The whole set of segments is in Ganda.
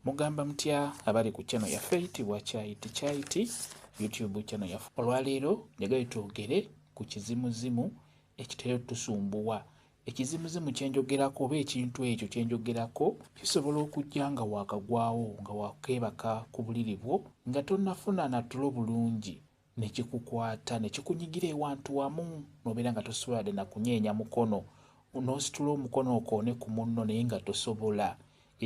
Mugamba mutya abali ku channel yaffe eyitibwa Kyayiti Kyayiti YouTube channel yaffe. Olwaleero njagala twogere ku kizimuzimu ekitera otusumbuwa. Ekizimuzimu kye njogerako oba ekintu ekyo kye njogerako kisobola okujja nga waakagwawo nga wakeebaka ku buliri bwo nga tonnafuna na tulo bulungi ne kikukwata ne kikunyigira ewantu wamu n'obeera nga tosobola de na kunyeenya mukono n'ositula omukono okoone ku munno naye nga tosobola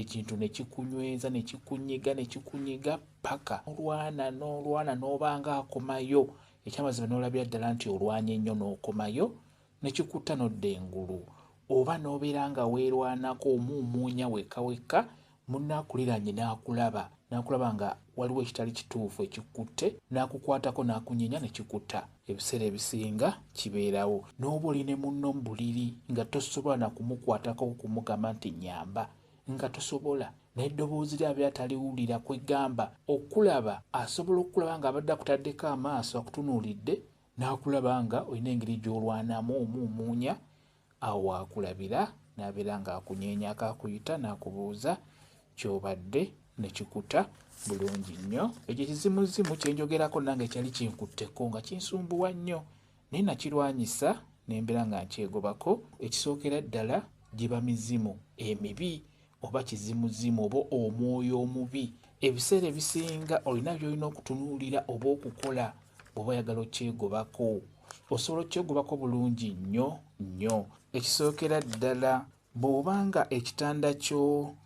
ekintu ne kikunyweza ne kikunyiga ne kikunyiga paka olwana n'olwana n'oba nga akomayo ekyamazima n'olabira ddala nti olwanye nnyo n'okomayo ne kikutta n'odda engulu oba n'obeera nga weerwanako omuumuunya wekka wekka munno akuliraanye n'akulaba n'akulaba nga waliwo ekitali kituufu ekikutte n'akukwatako n'akunyeenya ne kikuta ebiseera ebisinga kibeerawo n'oba oli ne munno mu buliri nga tosobola na kumukwatako okumugamba nti nnyamba nga tosobola naye eddoboozi lye abeera taliwulira kwegamba okulaba asobola okukulaba ng'abadde akutaddeko amaaso akutunuulidde n'akulaba nga olina engeri gy'olwanamu omuumuunya awo waakulabira n'abeera ng'akunyeenyako akuyita n'akubuuza ky'obadde ne kikuta bulungi nnyo ekyo ekizimuzimu kye njogerako nange kyali kinkutteko nga kinsumbuwa nnyo naye nakirwanyisa ne mbeera nga nkyegobako ekisookera ddala giba mizimu emibi oba kizimuzimu oba omwoyo omubi ebiseera ebisinga olina byolina okutunuulira oba okukola bwoba oyagala okyegobako osobola okyegobako bulungi nnyo nnyo ekisookera ddala bw'oba nga ekitanda kyo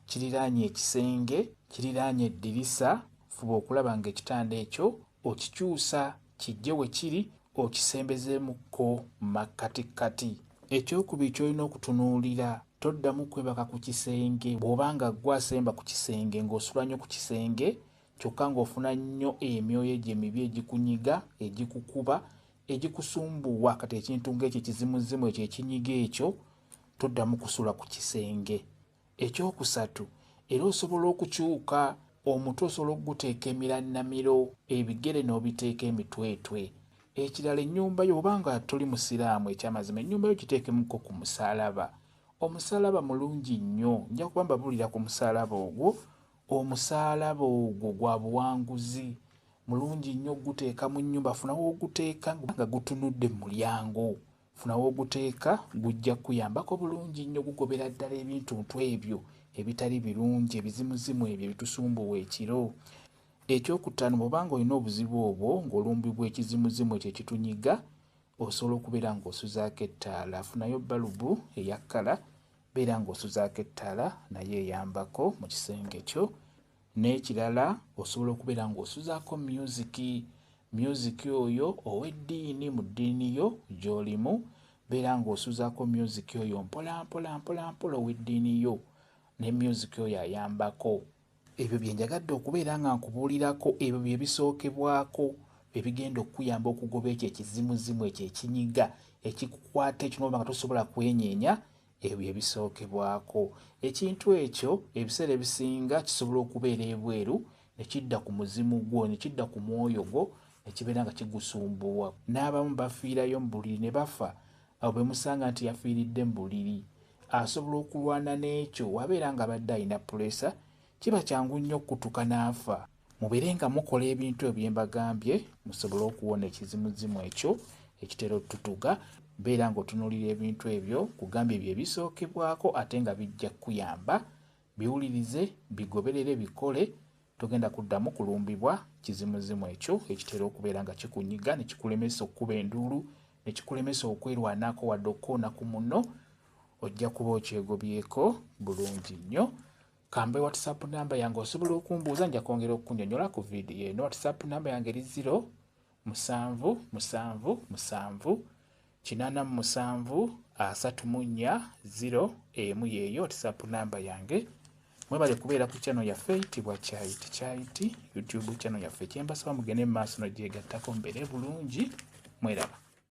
kiriraanye ekisenge kiriraanye eddirisa fuba okulaba ng'ekitanda ekyo okikyusa Kijje we kiri okisembezeemukko makkatikkati. Ekyokubiri ky'olina okutunuulira, toddamu kwebaka ku kisenge. Bw'oba nga ggwe asemba ku kisenge ng'osula nnyo ku kisenge kyokka ng'ofuna nnyo emyoyo egyo emibi egikunyiga, egikukuba, egikusumbuwa kati ekintu ng'ekyo ekizimuzimu ekyo ekinyiga ekyo, toddamu kusula ku kisenge. Ekyokusatu, era osobola okukyuka omutwe osobola okuguteeka emirannamiro, ebigere n'obiteeka emitwetwe. Ekirala ennyumba yo oba nga toli Musiraamu ekyamazima ennyumba yo giteekemuko ku musaalaba. Omusaalaba mulungi nnyo. Nja kuba mbabuulira ku musaalaba ogwo. Omusaalaba ogwo gwa buwanguzi. Mulungi nnyo okuguteeka mu nnyumba. Funa w'oguteeka nga gutunudde mu mulyango. Funa w'oguteeka gujja kukuyambako bulungi nnyo gugobera ddala ebintuntu ebyo ebitali birungi ebizimuzimu ebyo ebitusumbuwa ekiro. Ekyokutaano bw'oba ng'olina obuzibu obwo ng'olumbibwa ekizimuzimu ekyo ekitunyiga osobola okubeera ng'osuzaako ettaala. Funayo balubu eya kkala beera ng'osuzaako ettaala nayo eyambako mu kisenge kyo N'ekirala osobola okubeera ng'osuzaako myuziki, myuziki oyo ow'eddiini mu ddiini yo gy'olimu, beera ng'osuzaako myuziki oyo mpolampola mpolampola ow'eddiini yo ne myuziki oyo ayambako. Ebyo bye njagadde okubeera nga nkubuulirako, ebyo bye bisookebwako ebigenda okukuyamba okugoba ekyo ekizimuzimu ekyo ekinyiga ekikukwata ekyo n'oba nga tosobola kwenyeenya Ebyo ebisookebwako. Ekintu ekyo ebiseera ebisinga kisobola okubeera ebweru ne kidda ku muzimu gwo, ne kidda ku mwoyo gwo ne kibeera nga kigusumbuwa. N'abamu bafiirayo mu buliri ne bafa awo be musanga nti yafiiridde mu buliri. Asobola okulwana n'ekyo. W'abeera ng'abadde alina puleesa, kiba kyangu nnyo okukutuka n'afa. Mubeere nga mukola ebintu ebyo bye mbagambye musobole okuwona ekizimuzimu ekyo ekitera otutuga. Beera ng'otunuulira ebintu ebyo kugambye bye bisookebwako ate nga bijja kukuyamba. Biwulirize, bigoberere, bikole. Togenda kuddamu kulumbibwa kizimuzimu ekyo ekitera okubeera nga kikunyiga ne kikulemesa okukuba enduulu, ne kikulemesa okwerwanako wadde okukoona ku munno. Ojja kuba okyegobyeko bulungi nnyo. Kambe WhatsApp namba yange osobola okumbuuza nja kwongera okukunyonyola ku vidiyo eno. WhatsApp namba yange eri ziro musanvu musanvu musanvu kinaana mu musanvu asatu mu nnya ziro emu yeeyo WhatsApp namba yange. Mwebale kubeera ku channel yaffe itibwa Kyayiti Kyayiti YouTube channel yaffe. Kyembasaba mugende mu maaso n'ogyegattako mbeere bulungi mweraba.